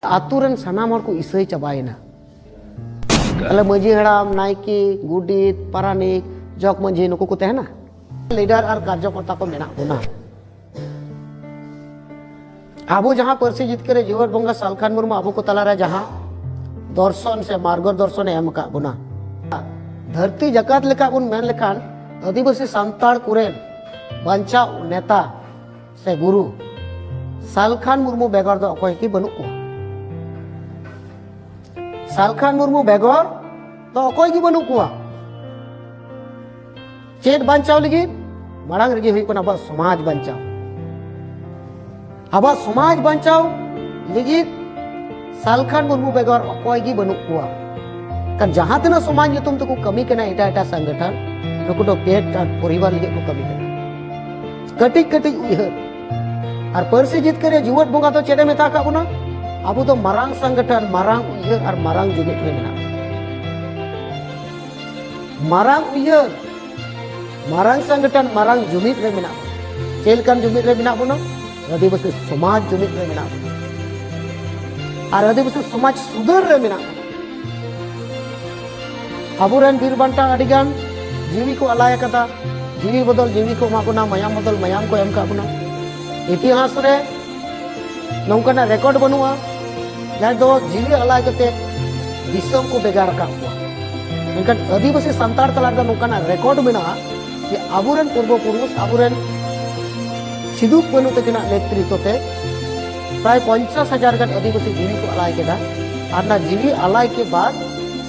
ᱟᱛᱳ ᱨᱮᱱ ᱥᱟᱱᱟᱢ ᱦᱚᱲ ᱠᱚ ᱤᱥᱟᱹᱭ ᱪᱟᱵᱟᱭᱮᱱᱟ ᱛᱟᱦᱞᱮ ᱢᱟᱹᱡᱷᱤ ᱦᱟᱲᱟᱢ ᱱᱟᱭᱠᱮ ᱜᱩᱰᱤᱛ ᱯᱟᱨᱟᱱᱤᱠ ᱡᱚᱜᱽ ᱢᱟᱹᱡᱷᱤ ᱱᱩᱠᱩ ᱠᱚ ᱛᱟᱦᱮᱱᱟ ᱞᱤᱰᱟᱨ ᱟᱨ ᱠᱟᱨᱡᱚᱠᱚᱨᱛᱟ ᱠᱚ ᱢᱮᱱᱟᱜ ᱵᱚᱱᱟ ᱟᱵᱚ ᱡᱟᱦᱟᱸ ᱯᱟᱹᱨᱥᱤ ᱡᱤᱛᱠᱟᱹᱨ ᱡᱤᱣᱟᱹᱲ ᱵᱚᱸᱜᱟ ᱥᱟᱞᱠᱷᱟᱱ ᱢᱩᱨᱢᱩ ᱟᱵᱚ ᱠᱚ ᱛᱟᱞᱟᱨᱮ ᱡᱟᱦᱟᱸ ᱫᱚᱨᱥᱚᱱ ᱥᱮ ᱢᱟᱨᱜᱚ ᱫᱚᱨᱥᱚᱱᱮ ᱮᱢ ᱟᱠᱟᱫ ᱵᱚᱱᱟ ᱫᱷᱟᱹᱨᱛᱤ ᱡᱟᱠᱟᱛ ᱞᱮᱠᱟ ᱵᱚᱱ ᱢᱮᱱ ᱞᱮᱠᱷᱟᱱ ᱟᱹᱫᱤᱵᱟᱹᱥᱤ ᱥᱟᱱᱛᱟᱲ ᱠᱚᱨᱮᱱ ᱵᱟᱧᱪᱟᱣ ᱱᱮᱛᱟ ᱥᱮ ᱜᱩᱨᱩ ᱥᱟᱞᱠᱷᱟᱱ ᱢᱩᱨᱢᱩ ᱵᱮᱜᱚᱨ ᱫᱚ ᱚᱠᱚᱭ ᱜᱮ ᱵᱟᱹᱱᱩᱜ ᱠᱚᱣᱟ ᱥᱟᱞᱠᱷᱟᱱ ᱢᱩᱨᱢᱩ ᱵᱮᱜᱚᱨ ᱫᱚ ᱚᱠᱚᱭ ᱜᱮ ᱵᱟᱹᱱᱩᱜ ᱠᱚᱣᱟ ᱪᱮᱫ ᱵᱟᱧᱪᱟᱣ ᱞᱟᱹᱜᱤᱫ ᱢᱟᱲᱟᱝ ᱨᱮᱜᱮ ᱦᱩᱭᱩᱜ ᱠᱟᱱᱟ ᱟᱵᱚᱣᱟᱜ ᱥᱚᱢᱟᱡᱽ ᱵᱟᱧᱪᱟᱣ ᱟᱵᱚᱣᱟᱜ ᱥᱚᱢᱟᱡᱽ ᱵᱟᱧᱪᱟᱣ ᱞᱟᱹᱜᱤᱫ ᱥᱟᱞᱠᱷᱟᱱ ᱢᱩᱨᱢᱩ ᱵᱮᱜᱚᱨ ᱚᱠᱚᱭ ᱜᱮ ᱵᱟᱹᱱᱩᱜ ᱠᱚᱣᱟ ᱠᱟᱨ ᱡᱟᱦᱟᱸ ᱛᱤᱱᱟᱹᱜ ᱥᱚᱢᱟᱡᱽ ᱧᱩᱛᱩᱢ ᱛᱮᱠᱚ ᱠᱟᱹᱢᱤ ᱠᱟᱱᱟ ᱮᱴᱟᱜ ᱮᱴᱟᱜ ᱥᱚᱝᱜᱚᱴᱷᱚᱱ ᱱᱩᱠᱩ ᱫᱚ ᱯᱮᱴ ᱟᱨ ᱯᱚᱨᱤᱵᱟᱨ ᱞᱟᱹᱜᱤᱫ ᱠᱚ ᱠᱟᱹᱢᱤ ᱠᱟᱱᱟ ᱠᱟᱹᱴᱤᱡ ᱠᱟᱹᱴᱤᱡ ᱩᱭᱦᱟᱹᱨ ᱟᱨ ᱯᱟᱹᱨᱥᱤ ᱡᱤᱛᱠᱟᱹᱨ ᱨᱮ ᱡᱩᱣᱟᱹᱱ ᱵᱚᱸᱜᱟ ᱫᱚ ᱪᱮᱫ ᱮ ᱢᱮᱛᱟ ᱟᱠᱟᱫ ᱵᱚᱱᱟ ᱟᱵᱚ ᱫᱚ ᱢᱟᱨᱟᱝ ᱥᱚᱝᱜᱚᱴᱷᱚᱱ ᱢᱟᱨᱟᱝ ᱩᱭᱦᱟᱹᱨ ᱟᱨ ᱢᱟᱨᱟᱝ ᱡᱩᱢᱤᱫ ᱨᱮ ᱢᱮᱱᱟᱜ ᱢᱟᱨᱟᱝ ᱩᱭᱦᱟᱹᱨ ᱢᱟᱨᱟᱝ ᱥᱚᱝᱜᱚᱴᱷᱚᱱ ᱢᱟᱨᱟᱝ ᱡᱩᱢᱤᱫ ᱨᱮ ᱢᱮᱱᱟᱜ ᱵᱚᱱᱟ ᱪᱮᱫ ᱞᱮᱠᱟᱱ ᱡᱩᱢᱤᱫ ᱨᱮ ᱢᱮᱱᱟᱜ ᱵᱚᱱᱟ ᱟᱹᱫᱤᱵᱟᱹᱥᱤ ᱥᱚᱢᱟᱡᱽ ᱡᱩᱢᱤᱫ ᱨᱮ ᱢᱮᱱᱟᱜ ᱵᱚᱱᱟ ᱟᱨ ᱟᱹᱫᱤᱵᱟᱹᱥᱤ ᱥᱚᱢᱟᱡᱽ ᱥᱩᱫᱷᱟᱹᱨ ᱨᱮ ᱢᱮᱱᱟᱜ ᱵᱚᱱᱟ ᱟᱵᱚᱨᱮᱱ ᱵᱤᱨ ᱵᱟᱱᱴᱟ ᱟᱹᱰᱤᱜᱟᱱ ᱡᱤᱣᱤ ᱠᱚ ᱟᱞᱟᱭ ᱟᱠᱟᱫᱟ ᱡᱤᱣᱤ ᱵᱚᱫᱚᱞ ᱡᱤᱣᱤ ᱠᱚ ᱮᱢᱟ ᱵᱚᱱᱟ ᱢᱟᱭᱟᱢ ᱵᱚᱫᱚᱞ ᱢᱟᱭᱟᱢ ᱠᱚ ᱮᱢ ᱠᱟᱜ ᱵᱚᱱᱟ ᱤᱛᱤᱦᱟᱥ ᱨᱮ ᱱᱚᱝᱠᱟᱱᱟᱜ ᱨᱮᱠᱚᱨᱰ ᱵᱟᱹᱱᱩᱜᱼᱟ ᱡᱟᱦᱟᱸᱭ ᱫᱚ ᱡᱤᱣᱤ ᱟᱞᱟᱭ ᱠᱟᱛᱮ ᱫᱤᱥᱚᱢ ᱠᱚ ᱵᱷᱮᱜᱟᱨ ᱟᱠᱟᱫ ᱠᱚᱣᱟ ᱢᱮᱱᱠᱷᱟᱱ ᱟᱹᱫᱤᱵᱟᱹᱥᱤ ᱥᱟᱱᱛᱟᱲ ᱛᱟᱞᱟ ᱨᱮᱫᱚ ᱱᱚᱝᱠᱟᱱᱟᱜ ᱨᱮᱠᱚᱨᱰ ᱢᱮᱱᱟᱜᱼᱟ ᱡᱮ ᱟᱵᱚᱨᱮᱱ ᱯᱩᱨᱵᱚ ᱯᱩᱨᱩᱥ ᱟᱵᱚᱨᱮᱱ ᱥᱤᱫᱩ ᱠᱟᱹᱱᱩ ᱛᱟᱹᱠᱤᱱᱟᱜ ᱱᱮᱛᱨᱤᱛᱵ ᱛᱮ ᱯᱨᱟᱭ ᱯᱚᱧᱪᱟᱥ ᱦᱟᱡᱟᱨ ᱜᱟᱱ ᱟᱹᱫᱤᱵᱟᱹᱥᱤ ᱡᱤᱣᱤ ᱠᱚ ᱟᱞᱟᱭ ᱠᱮᱫᱟ ᱟᱨ ᱚᱱᱟ ᱡᱤᱣᱤ ᱟᱞᱟᱭ ᱠᱮ ᱵᱟᱫ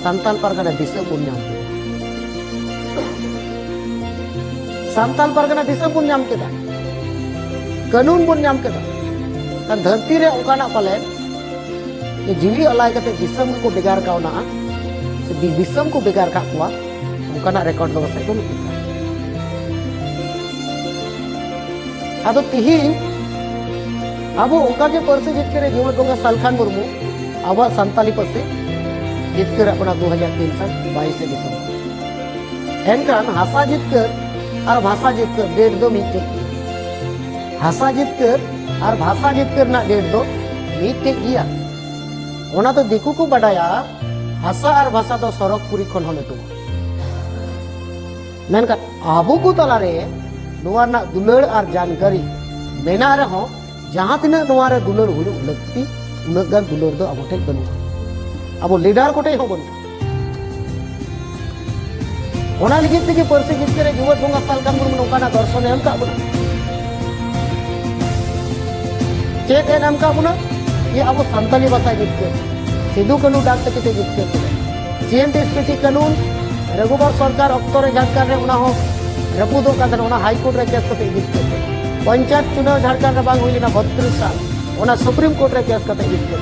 ᱥᱟᱱᱛᱟᱞ ᱯᱟᱨᱜᱟᱱᱟ ᱫᱤᱥᱟᱹ ᱵᱚᱱ ᱧᱟᱢ ᱠᱮᱫᱟ ᱥᱟᱱᱛᱟᱞ ᱯᱟᱨᱜᱟᱱᱟ ᱫᱤᱥᱟᱹ ᱵᱚᱱ ᱧᱟᱢ ᱠᱮᱫᱟ ᱠᱟᱹᱱᱩᱱ ᱵᱚᱱ ᱧᱟᱢ ᱠᱮᱫᱟ ᱟᱨ ᱫᱷᱟᱹᱨᱛᱤ ᱨᱮ ᱚᱱᱠᱟᱱᱟᱜ ᱯᱟᱞᱮ ᱡᱤᱣᱤ ᱟᱞᱟᱭ ᱠᱟᱛᱮ ᱫᱤᱥᱚᱢ ᱠᱚ ᱵᱮᱜᱟᱨ ᱠᱟᱣᱱᱟ ᱫᱤᱥᱚᱢ ᱠᱚ ᱵᱮᱜᱟᱨ ᱠᱟᱜ ᱠᱚᱣᱟ ᱚᱱᱠᱟᱱᱟᱜ ᱨᱮᱠᱚᱨᱰ ᱫᱚ ᱯᱟᱥᱮᱡ ᱵᱟᱹᱱᱩᱜ ᱟᱫᱚ ᱛᱤᱦᱤᱧ ᱟᱵᱚ ᱚᱱᱠᱟᱜᱮ ᱯᱟᱹᱨᱥᱤ ᱡᱤᱛᱠᱟᱹᱨᱮ ᱡᱩᱣᱟᱹᱱ ᱵᱚᱸᱜᱟ ᱥᱟᱞᱠᱷᱟᱱ ᱢᱩᱨᱢᱩ ᱟᱵᱚᱣᱟᱜ ᱥᱟᱱᱛᱟᱞᱤ ᱯᱟᱹᱨᱥᱤ ᱡᱤᱛᱠᱟᱹᱨᱟᱜ ᱵᱚᱱᱟ ᱫᱩ ᱦᱟᱡᱟᱨ ᱛᱤᱱ ᱥᱟᱞ ᱵᱟᱭᱤᱥᱮ ᱫᱤᱥᱚᱢ ᱮᱱᱠᱷᱟᱱ ᱦᱟᱥᱟ ᱡᱤᱛᱠᱟᱹᱨ ᱟᱨ ᱵᱷᱟᱥᱟ ᱡᱤᱛᱠᱟᱹᱨ ᱰᱮᱴ ᱫᱚ ᱢᱤᱫᱴᱮᱡ ᱦᱟᱥᱟ ᱡᱤᱛᱠᱟᱹᱨ ᱟᱨ ᱵᱷᱟᱥᱟ ᱡᱤᱛᱠᱟᱹᱨ ᱨᱮᱱᱟᱜ ᱰᱮᱴ ᱫᱚ ᱢᱤᱫᱴᱮᱡ ᱜᱮᱭᱟ ᱚᱱᱟ ᱫᱚ ᱫᱤᱠᱩ ᱠᱚ ᱵᱟᱰᱟᱭᱟ ᱦᱟᱥᱟ ᱟᱨ ᱵᱷᱟᱥᱟ ᱫᱚ ᱥᱚᱨᱚᱜᱽ ᱯᱩᱨᱤ ᱠᱷᱚᱱ ᱦᱚᱸ ᱞᱟᱹᱴᱩᱣᱟ ᱢᱮᱱᱠᱷᱟᱱ ᱟᱵᱚ ᱠᱚ ᱛᱟᱞᱟᱨᱮ ᱱᱚᱣᱟ ᱨᱮᱱᱟᱜ ᱫᱩᱞᱟᱹᱲ ᱟᱨ ᱡᱟᱱᱠᱟᱨᱤ ᱢᱮᱱᱟᱜ ᱨᱮᱦᱚᱸ ᱡᱟᱦᱟᱸ ᱛᱤᱱᱟᱹᱜ ᱱᱚᱣᱟ ᱨᱮ ᱫᱩᱞᱟᱹᱲ ᱦᱩᱭᱩᱜ ᱞᱟᱹᱠᱛᱤ ᱩᱱᱟᱹᱜ ᱜᱟᱱ ᱫᱩᱞᱟᱹᱲ ᱫᱚ ᱟᱵᱚ ᱴᱷᱮᱱ ᱵᱟᱹᱱᱩᱜᱼᱟ ᱟᱵᱚ ᱞᱤᱰᱟᱨ ᱠᱚᱴᱷᱮᱱ ᱦᱚᱸ ᱵᱟᱹᱱᱩᱜᱼᱟ ᱚᱱᱟ ᱞᱟᱹᱜᱤᱫ ᱛᱮᱜᱮ ᱯᱟᱹᱨᱥᱤ ᱡᱤᱛᱠᱟᱹᱨ ᱨᱮ ᱡᱩᱣᱟᱹᱨ ᱵᱚᱸᱜᱟ ᱥᱟᱞᱠᱟ ᱢᱩᱨᱢᱩ ᱱᱚᱝᱠᱟᱱᱟᱜ ᱫᱚᱨᱥᱚᱱᱮ ᱮᱢ ᱠᱟᱜ ᱵᱚᱱᱟ ᱪᱮᱫ ᱮ ᱮᱢ ᱠᱟᱜ ᱵᱚᱱᱟ ᱡᱮ ᱟᱵᱚ ᱥᱟᱱᱛᱟᱞᱤ ᱵᱷᱟᱥᱟ ᱡᱤᱛᱠᱟᱹᱨ ᱥᱤᱫᱩ ᱠᱟᱹᱱᱩ ᱰᱟᱠ ᱛᱮ ᱠᱤᱛᱟᱹ ᱡᱤᱛᱠᱟᱹᱨ ᱡᱤᱭᱮᱱ ᱰᱤᱥᱯᱤᱴᱤ ᱠᱟᱹᱱᱩᱱ ᱨᱟᱹᱜᱷᱩᱵᱟᱨ ᱥᱚᱨᱠᱟᱨ ᱚᱠᱛᱚ ᱨᱮ ᱡᱷᱟᱲᱠᱷᱚᱸᱰ ᱨᱮ ᱚᱱᱟ ᱦᱚᱸ ᱨᱟᱹᱯᱩᱫᱚᱜ ᱠᱟᱱ ᱛᱟᱦᱮᱱᱟ ᱚᱱᱟ ᱦᱟᱭᱠᱳᱨᱴ ᱨᱮ ᱠᱮᱥ ᱠᱟᱛᱮ ᱡᱤᱛᱠᱟᱹᱨ ᱯᱚᱧᱪᱟᱭᱮᱛ ᱪᱩᱱᱟᱣ ᱡᱷᱟᱲᱠᱷᱚᱸᱰ ᱨᱮ ᱵᱟᱝ ᱦᱩᱭ ᱞᱮᱱᱟ ᱵᱚᱛᱨᱤᱥ ᱥᱟᱞ ᱚᱱᱟ ᱥᱩᱯᱨᱤᱢ ᱠᱳᱨᱴ ᱨᱮ ᱠᱮᱥ ᱠᱟᱛᱮ ᱡᱤᱛᱠᱟᱹᱨ